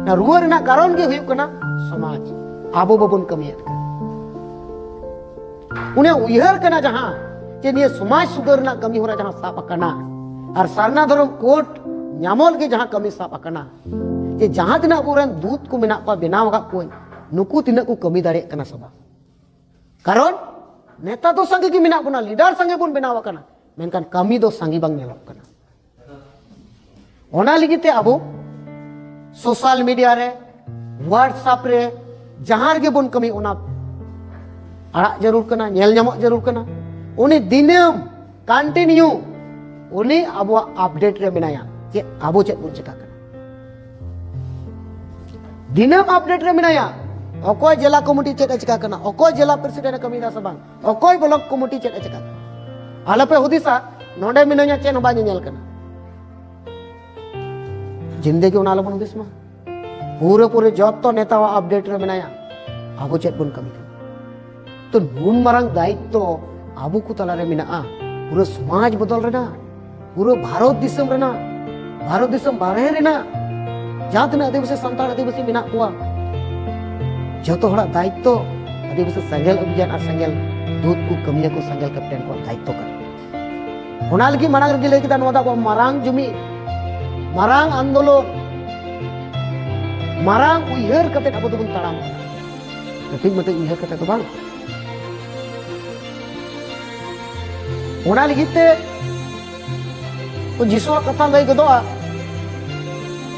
ᱟᱨ ᱨᱩᱣᱟᱹ ᱨᱮᱱᱟᱜ ᱠᱟᱨᱚᱱ ᱜᱮ ᱦᱩᱭᱩᱜ ᱠᱟᱱᱟ ᱥᱚᱢᱟᱡᱽ ᱟᱵᱚ ᱵᱟᱵᱚᱱ ᱠᱟᱹᱢᱤᱭᱮᱫ ᱠᱟᱱᱟ ᱩᱱᱤ ᱩᱭᱦᱟᱹᱨ ᱠᱟᱱᱟ ᱡᱟᱦᱟᱸ ᱡᱮ ᱱᱤᱭᱟᱹ ᱥᱚᱢᱟᱡᱽ ᱥᱩᱫᱷᱟᱹᱨ ᱨᱮᱱᱟᱜ ᱠᱟᱹᱢᱤ ᱦᱚᱨᱟ ᱡᱟᱦᱟᱸ ᱥᱟᱵ ᱟᱠᱟᱱᱟ ᱟᱨ ᱥᱟᱨᱱᱟ ᱫᱷᱚᱨᱚᱢ ᱠᱳᱰ ᱧᱟᱢᱚᱜ ᱞᱟᱹᱜᱤᱫ ᱡᱟᱦᱟᱸ ᱠᱟᱹᱢᱤ ᱥᱟᱵ ᱟᱠᱟᱱᱟ ᱡᱮ ᱡᱟᱦᱟᱸ ᱛᱤᱱᱟᱹᱜ ᱟᱵᱚᱨᱮᱱ ᱫᱩᱛ ᱠᱚ ᱢᱮᱱᱟᱜ ᱠᱚᱣᱟ ᱵᱮᱱᱟᱣ ᱟᱠᱟᱫ ᱠᱚᱣᱟᱹᱧ ᱱᱩᱠᱩ ᱛᱤᱱᱟᱹᱜ ᱠᱚ ᱠᱟᱹᱢᱤ ᱫᱟᱲᱮᱭᱟᱜ ᱠᱟᱱᱟ ᱥᱮ ᱵᱟᱝ ᱠᱟᱨᱚᱱ ᱱᱮᱛᱟ ᱫᱚ ᱥᱟᱸᱜᱮ ᱜᱮ ᱢᱮᱱᱟᱜ ᱵᱚᱱᱟ ᱞᱤᱰᱟᱨ ᱥᱟᱸᱜᱮ ᱵᱚᱱ ᱵᱮᱱᱟᱣ ᱟᱠᱟᱱᱟ ᱢᱮᱱᱠᱷᱟᱱ ᱠᱟᱹᱢᱤ ᱫᱚ ᱥᱟᱸᱜᱮ ᱵᱟᱝ ᱧᱮᱞᱚᱜ ᱠᱟᱱᱟ ᱚᱱᱟ ᱞᱟᱹᱜᱤᱫ ᱛᱮ ᱟᱵᱚ ᱥᱳᱥᱟᱞ ᱢᱤᱰᱤᱭᱟ ᱨᱮ ᱦᱳᱣᱟᱴᱥᱟᱯ ᱨᱮ ᱡᱟᱦᱟᱸ ᱨᱮᱜᱮ ᱵᱚᱱ ᱠᱟᱹᱢᱤ ᱚᱱᱟ ᱟᱲᱟᱜ ᱡᱟᱹᱨᱩᱲ ᱠᱟᱱᱟ ᱧᱮᱞ ᱧᱟᱢᱚᱜ ᱡᱟᱹᱨᱩᱲ ᱠᱟᱱᱟ ᱩᱱᱤ ᱫᱤᱱᱟᱹᱢ ᱠᱚᱱᱴᱤᱱᱤᱭᱩ ᱩᱱᱤ ᱟᱵᱚᱣᱟᱜ ᱟᱯᱰᱮᱴ ᱨᱮ ᱢᱮᱱᱟᱭᱟ ᱪᱮᱫ ᱟᱵᱚ ᱪᱮᱫ ᱵᱚᱱ ᱪᱮᱠᱟ ᱠᱟᱱᱟ ᱫᱤᱱᱟᱹᱢ ᱟᱯᱰᱮᱴ ᱨᱮ ᱢᱮᱱᱟᱭᱟ ᱚᱠᱚᱭ ᱡᱮᱞᱟ ᱠᱚᱢᱤᱴᱤ ᱪᱮᱫ ᱮ ᱪᱮᱠᱟ ᱠᱟᱱᱟ ᱚᱠᱚᱭ ᱡᱮᱞᱟ ᱯᱨᱮᱥᱤᱰᱮᱱᱴ ᱮ ᱠᱟᱹᱢᱤᱭᱮᱫᱟ ᱥᱮ ᱵᱟᱝ ᱚᱠᱚᱭ ᱵᱞᱚᱠ ᱠᱚᱢᱤᱴᱤ ᱪᱮᱫ ᱮ ᱪᱮᱠᱟ ᱟᱞᱚᱯᱮ ᱦᱩᱫᱤᱥᱟ ᱱᱚᱰᱮ ᱢᱤᱱᱟᱹᱧᱟ ᱪᱮᱫ ᱦᱚᱸ ᱵᱟᱭ ᱧᱮᱧᱮᱞ ᱠᱟᱱᱟ ᱡᱤᱱᱫᱮᱜᱤ ᱚᱱᱟ ᱟᱞᱚᱵᱚᱱ ᱦᱩᱫᱤᱥ ᱢᱟ ᱯᱩᱨᱟᱹ ᱯᱩᱨᱟᱹ ᱡᱚᱛᱚ ᱱᱮᱛᱟᱣᱟᱜ ᱟᱯᱰᱮᱴ ᱨᱮ ᱢᱮᱱᱟᱭᱟ ᱟᱵᱚ ᱪᱮᱫ ᱵᱚᱱ ᱠᱟᱹᱢᱤ ᱠᱟᱱᱟ ᱛᱚ ᱱᱩᱱ ᱢᱟᱨᱟᱝ ᱫᱟᱭᱤᱛᱛᱚ ᱟᱵᱚ ᱠᱚ ᱛᱟᱞᱟᱨᱮ ᱢᱮᱱᱟᱜᱼᱟ ᱯᱩᱨᱟᱹ ᱥᱚᱢᱟᱡᱽ ᱵᱚᱫᱚᱞ ᱨᱮᱱᱟᱜ ᱯᱩᱨᱟᱹ ᱵᱷᱟᱨᱚᱛ ᱫᱤᱥᱚᱢ ᱨᱮᱱᱟᱜ ᱵᱷᱟᱨᱚᱛ ᱫᱤᱥᱚᱢ ᱵᱟᱨᱦᱮ ᱨᱮᱱᱟᱜ ᱡᱟᱦᱟᱸ ᱛᱤᱱᱟᱹᱜ ᱟᱹᱫᱤᱵᱟᱹᱥᱤ ᱥᱟᱱᱛᱟᱲ ᱟᱹᱫᱤᱵᱟᱹᱥᱤ ᱢᱮᱱᱟᱜ ᱠᱚᱣᱟ ᱡᱚᱛᱚ ᱦᱚᱲᱟᱜ ᱫᱟᱭᱤᱛᱛᱚ ᱟᱹᱫᱤᱵᱟᱹᱥᱤ ᱥᱮᱸᱜᱮᱞ ᱚᱵᱷᱤᱡᱟᱱ ᱟᱨ ᱥᱮᱸᱜᱮᱞ ᱫᱩᱛ ᱠᱚ ᱠᱟᱹᱢᱤᱭᱟᱹ ᱠᱚ ᱥᱮᱸᱜᱮᱞ ᱠᱮᱯᱴᱮᱱ ᱠᱚ ᱫᱟᱭᱤᱛᱛᱚ ᱠᱟᱱᱟ ᱚᱱᱟ ᱞᱟᱹᱜᱤᱫ ᱢᱟᱲᱟᱝ ᱨᱮᱜᱮ ᱞᱟᱹᱭ ᱠᱮᱫᱟ ᱱᱚᱣᱟ ᱫᱚ ᱟᱵᱚ ᱢᱟᱨᱟᱝ ᱡᱩᱢᱤ ᱢᱟᱨᱟᱝ ᱟᱱᱫᱳᱞᱚᱱ ᱢᱟᱨᱟᱝ ᱩᱭᱦᱟᱹᱨ ᱠᱟᱛᱮ ᱟᱵᱚ ᱫᱚᱵᱚᱱ ᱛᱟᱲᱟᱢ ᱠᱟᱹᱴᱤᱡ ᱢᱟᱹᱴᱤᱡ ᱩᱭᱦᱟᱹᱨ ᱠᱟᱛᱮ ᱫᱚ ᱵᱟᱝ ᱚᱱᱟ ᱞᱟᱹᱜᱤᱫ ᱛᱮ ᱡᱤᱥᱩᱣᱟᱜ ᱠᱟᱛᱷᱟ ᱞᱟᱹᱭ ᱜᱚᱫᱚᱜᱼᱟ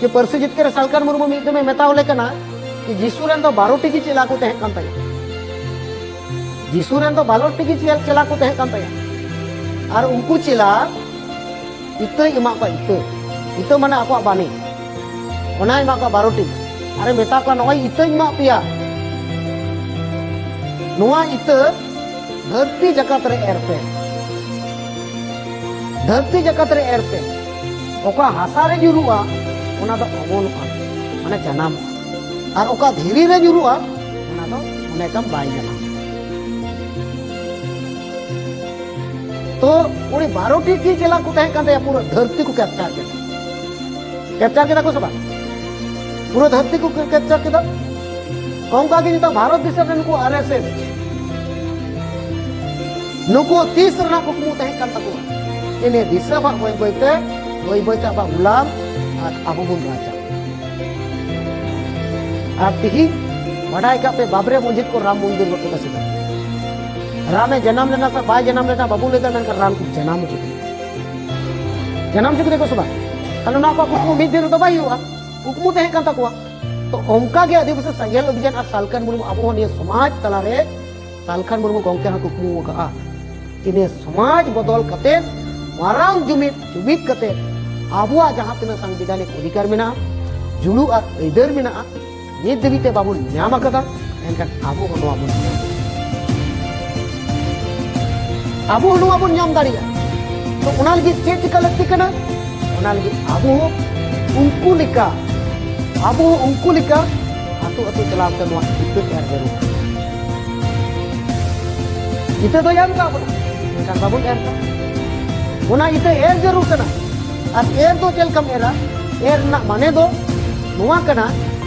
ᱡᱮ ᱯᱟᱹᱨᱥᱤ ᱡᱤᱛᱠᱟᱹᱨ ᱥᱟᱞᱠᱟᱨ ᱢᱩᱨᱢᱩ ᱢᱤᱫ ᱫᱚᱢᱮ ᱢᱮᱛᱟᱣ ᱞᱮ ᱠᱟᱱᱟ ᱡᱮ ᱡᱤᱥᱩ ᱨᱮᱱ ᱫᱚ ᱵᱟᱨᱚᱴᱤ ᱜᱮ ᱪᱮᱞᱟ ᱠᱚ ᱛᱟᱦᱮᱸ ᱠᱟᱱ ᱛᱟᱭᱟ ᱡᱤᱥᱩ ᱨᱮᱱ ᱫᱚ ᱵᱟᱨᱚᱴᱤ ᱜᱮ ᱪᱮᱞᱟ ᱠᱚ ᱛᱟᱦᱮᱸ ᱠᱟᱱ ᱛᱟᱭᱟ ᱟᱨ ᱩᱱᱠᱩ ᱪᱮᱞᱟ ᱤᱛᱟᱹᱭ ᱮᱢᱟ ᱠᱚᱣᱟ ᱤᱛᱟᱹ ᱤᱛᱟᱹ ᱢᱟᱱᱮ ᱟᱠᱚᱣᱟᱜ ᱵᱟᱹᱱᱤ ᱚᱱᱟᱭ ᱮᱢᱟ ᱠᱚᱣᱟ ᱵᱟᱨᱚᱴᱤ ᱟᱨᱮ ᱢᱮᱛᱟ ᱠᱚᱣᱟ ᱱᱚᱜᱼᱚᱭ ᱤᱛᱟᱹᱧ ᱮᱢᱟᱜ ᱯᱮᱭᱟ ᱱᱚᱣᱟ ᱤᱛᱟᱹ ᱫᱷᱟᱹᱨᱛᱤ ᱡᱟᱠᱟᱛ ᱨᱮ ᱮᱨ ᱯᱮ ᱫᱷᱟᱹᱨᱛᱤ ᱡᱟᱠᱟᱛ ᱨᱮ ᱮᱨ ᱯᱮ ᱚᱠᱟ ᱦᱟᱥᱟ ᱨᱮ ᱧᱩᱨᱩᱜᱼᱟ ᱚᱱᱟ ᱫᱚ ᱚᱢᱚᱱᱚᱜᱼᱟ ᱢᱟᱱᱮ ᱡᱟᱱᱟᱢᱚᱜᱼᱟ ᱟᱨ ᱚᱠᱟ ᱫᱷᱤᱨᱤ ᱨᱮ ᱧᱩᱨᱩᱜᱼᱟ ᱚᱱᱟ ᱫᱚ ᱢᱚᱱᱮ ᱠᱟᱢ ᱵᱟᱭ ᱡᱟᱱᱟᱢᱚᱜᱼᱟ ᱛᱚ ᱩᱱᱤ ᱵᱟᱨᱚᱴᱤ ᱜᱮ ᱪᱮᱞᱟ ᱠᱚ ᱛᱟᱦᱮᱸ ᱠᱟᱱ ᱛᱟᱭᱟ ᱯᱩᱨᱟᱹ ᱫᱷᱟᱹᱨᱛᱤ ᱠᱚ ᱠᱮᱯᱪᱟᱨ ᱠᱮᱫᱟ ᱠᱮᱯᱪᱟᱨ ᱠᱮᱫᱟ ᱠᱚ ᱥᱮ ᱵᱟᱝ ᱯᱩᱨᱟᱹ ᱫᱷᱟᱹᱨᱛᱤ ᱠᱚ ᱠᱮᱯᱪᱟᱨ ᱠᱮᱫᱟ ᱚᱱᱠᱟ ᱜᱮ ᱱᱤᱛᱚᱜ ᱵᱷᱟᱨᱚᱛ ᱫᱤᱥᱚᱢ ᱨᱮ ᱱᱩᱠᱩ ᱟᱨ ᱮᱥ ᱮᱥ ᱱᱩᱠᱩ ᱛᱤᱥ ᱨᱮᱱᱟᱜ ᱠᱩᱠᱢᱩ ᱛᱟᱦᱮᱸ ᱠᱟᱱ ᱛᱟᱠᱚᱣᱟ ᱡᱮ ᱱᱤᱭᱟᱹ ᱫᱤᱥᱚᱢ ᱦᱟᱸᱜ ᱵᱟᱹᱭ ᱵᱟᱹᱭᱛᱮ ᱵᱟᱹᱭ ᱵᱟᱹᱭᱛᱮ ᱟᱵᱚᱣᱟᱜ ᱜᱩᱞᱟᱢ ᱟᱨ ᱟᱵᱚ ᱵᱚᱱ ᱨᱟᱡᱟ ᱟᱨ ᱛᱤᱦᱤᱧ ᱵᱟᱰᱟᱭ ᱠᱟᱜ ᱯᱮ ᱵᱟᱵᱨᱮ ᱢᱚᱥᱡᱤᱫ ᱠᱚ ᱨᱟᱢ ᱢᱚᱱᱫᱤᱨ ᱵᱟᱠᱚ ᱵᱟᱥ ᱮᱫᱟ ᱨᱟᱢᱮ ᱡᱟᱱᱟᱢ ᱞᱮᱱᱟ ᱥᱮ ᱵᱟᱭ ᱡᱟᱱᱟᱢ ᱞᱮᱱᱟ ᱵᱟᱵᱚ ᱞᱟᱹᱭ ᱫᱟ ᱢᱮᱱᱠᱷᱟᱱ ᱨᱟᱢ ᱠᱚ ᱡᱟᱱᱟᱢ ᱦᱚᱪᱚ ᱠᱮᱫᱟ ᱡᱟᱱᱟᱢ ᱦᱚᱪᱚ ᱠᱮᱫᱟ ᱠᱚ ᱥᱮ ᱵᱟᱝ ᱛᱟᱦᱞᱮ ᱱᱚᱣᱟ ᱠᱚ ᱠᱩᱠᱢᱩ ᱢᱤᱫ ᱫᱤᱱ ᱨᱮᱫᱚ ᱵᱟᱭ ᱦᱩᱭᱩᱜᱼᱟ ᱠᱩᱠᱢᱩ ᱛᱟᱦᱮᱸ ᱠᱟᱱ ᱛᱟᱠᱚᱣᱟ ᱛᱚ ᱚᱱᱠᱟ ᱜᱮ ᱟᱹᱫᱤᱵᱟᱹᱥᱤ ᱥᱮᱸᱜᱮᱞ ᱚᱵᱷᱤᱡᱟᱱ ᱟᱨ ᱥᱟᱞᱠᱷᱟᱱ ᱢᱩᱨᱢᱩ ᱟᱵᱚ ᱱᱤᱭᱟᱹ ᱥᱚᱢᱟᱡᱽ ᱛᱟᱞᱟᱨᱮ ᱥᱟᱞᱠᱷᱟᱱ ᱢᱩᱨᱢᱩ ᱜᱚᱢᱠᱮ ᱦᱚᱸ ᱠᱩᱠᱢᱩ ᱟᱠᱟᱫᱼᱟ ᱤᱱᱟᱹ ᱥᱚᱢᱟᱡᱽ ᱵᱚᱫᱚᱞ ᱠᱟᱛᱮ ᱢᱟᱨᱟᱝ ᱡᱩᱢᱤᱫ ᱡᱩᱢᱤᱫ ᱠᱟᱛᱮ ᱟᱵᱚᱣᱟᱜ ᱡᱟᱦᱟᱸ ᱛᱤᱱᱟᱹᱜ ᱥᱟᱝᱵᱤᱫᱷᱟᱱᱤᱠ ᱚᱫᱷᱤᱠᱟᱨ ᱢᱮᱱᱟᱜᱼᱟ ᱡᱩᱲᱩ ᱟᱨ ᱟᱹᱭᱫᱟᱹᱨ ᱢᱮᱱᱟᱜᱼᱟ ᱱᱤᱛ ᱫᱷᱟᱹᱵᱤᱡ ᱛᱮ ᱵᱟᱵᱚᱱ ᱧᱟᱢ ᱟᱠᱟᱫᱟ ᱮᱱᱠᱷᱟᱱ ᱟᱵᱚ ᱦᱚᱸ ᱱᱚᱣᱟ ᱵᱚᱱ ᱧᱟᱢ ᱟᱵᱚ ᱦᱚᱸ ᱱᱚᱣᱟ ᱵᱚᱱ ᱧᱟᱢ ᱫᱟᱲᱮᱭᱟᱜᱼᱟ ᱛᱚ ᱚᱱᱟ ᱞᱟᱹᱜᱤᱫ ᱪᱮᱫ ᱪᱤᱠᱟ ᱞᱟᱹᱠᱛᱤ ᱠᱟᱱᱟ ᱚᱱᱟ ᱞᱟᱹᱜᱤᱫ ᱟᱵᱚ ᱦᱚᱸ ᱩᱱᱠᱩ ᱞᱮᱠᱟ ᱟᱵᱚ ᱦᱚᱸ ᱩᱱᱠᱩ ᱞᱮᱠᱟ ᱟᱛᱳ ᱟᱛᱳ ᱪᱟᱞᱟᱣ ᱠᱟᱛᱮ ᱱᱚᱣᱟ ᱤᱛᱟᱹ ᱮᱨ ᱡᱟᱹᱨᱩᱲ ᱤᱛᱟᱹ ᱫᱚᱭ ᱮᱢ ᱠᱟᱜ ᱵᱚᱱᱟ ᱮᱱᱠᱷᱟᱱ ᱵᱟᱵᱚᱱ ᱮᱨ ᱠᱟᱜ ᱚᱱᱟ ᱤᱛᱟᱹ ᱮᱨ ᱡᱟᱹᱨᱩᱲ ᱠᱟᱱᱟ ᱟᱨ ᱮᱨ ᱫᱚ ᱪᱮᱫ ᱞᱮᱠᱟᱢ ᱮᱨᱟ ᱮᱨ ᱨᱮᱱᱟᱜ ᱢᱟᱱᱮ ᱫᱚ ᱱᱚᱣᱟ ᱠᱟᱱᱟ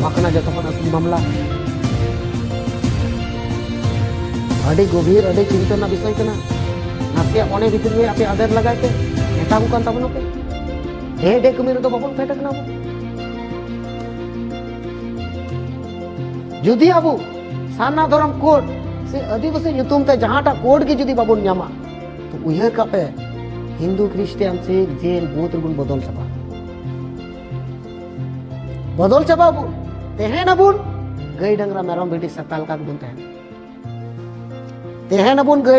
ᱱᱚᱣᱟ ᱠᱟᱱᱟ ᱡᱚᱛᱚ ᱠᱷᱚᱱ ᱟᱹᱥᱩᱞ ᱢᱟᱢᱞᱟ ᱟᱹᱰᱤ ᱜᱚᱵᱷᱤᱨ ᱟᱹᱰᱤ ᱪᱤᱱᱛᱟᱹ ᱨᱮᱱᱟᱜ ᱵᱤᱥᱚᱭ ᱠᱟᱱᱟ ᱱᱟᱥᱮᱭᱟᱜ ᱢᱚᱱᱮ ᱵᱷᱤᱛᱤᱨ ᱨᱮ ᱟᱯᱮ ᱟᱫᱮᱨ ᱞᱟᱜᱟᱭ ᱯᱮ ᱢᱮᱛᱟ ᱠᱚ ᱠᱟᱱ ᱛᱟᱵᱚᱱᱟ ᱯᱮ ᱰᱮ ᱰᱮ ᱠᱟᱹᱢᱤ ᱨᱮᱫᱚ ᱵᱟᱵᱚᱱ ᱯᱷᱮᱰ ᱠᱟᱱᱟ ᱵᱚᱱ ᱡᱩᱫᱤ ᱟᱵᱚ ᱥᱟᱨᱱᱟ ᱫᱷᱚᱨᱚᱢ ᱠᱳᱰ ᱥᱮ ᱟᱹᱫᱤᱵᱟᱹᱥᱤ ᱧᱩᱛᱩᱢ ᱛᱮ ᱡᱟᱦᱟᱸᱴᱟᱜ ᱠᱳᱰ ᱜᱮ ᱡᱩᱫᱤ ᱵᱟᱵᱚᱱ ᱧᱟᱢᱟ ᱛᱚ ᱩᱭᱦᱟᱹᱨ ᱠᱟᱜ ᱯᱮ ᱦᱤᱱᱫᱩ ᱠᱷᱨᱤᱥᱴᱤᱭᱟᱱ ᱥᱤᱠᱷ ᱡᱮᱱ ᱵᱩᱫᱷ ᱨᱮᱵᱚᱱ ᱵᱚᱫᱚᱞ ᱪᱟᱵᱟᱜᱼᱟ ᱵᱚᱫᱚᱞ ᱪᱟᱵᱟ ᱵᱚᱱ ᱛᱟᱦᱮᱱ ᱟᱵᱚᱱ ᱜᱟᱹᱭ ᱰᱟᱝᱨᱟ ᱢᱮᱨᱚᱢ ᱵᱷᱤᱰᱤ ᱥᱮᱛᱟ ᱞᱮᱠᱟ ᱜᱮᱵᱚᱱ ᱛᱟᱦᱮᱱᱟ ᱛᱟᱦᱮᱱ ᱟᱵᱚᱱ ᱜᱟᱹᱭ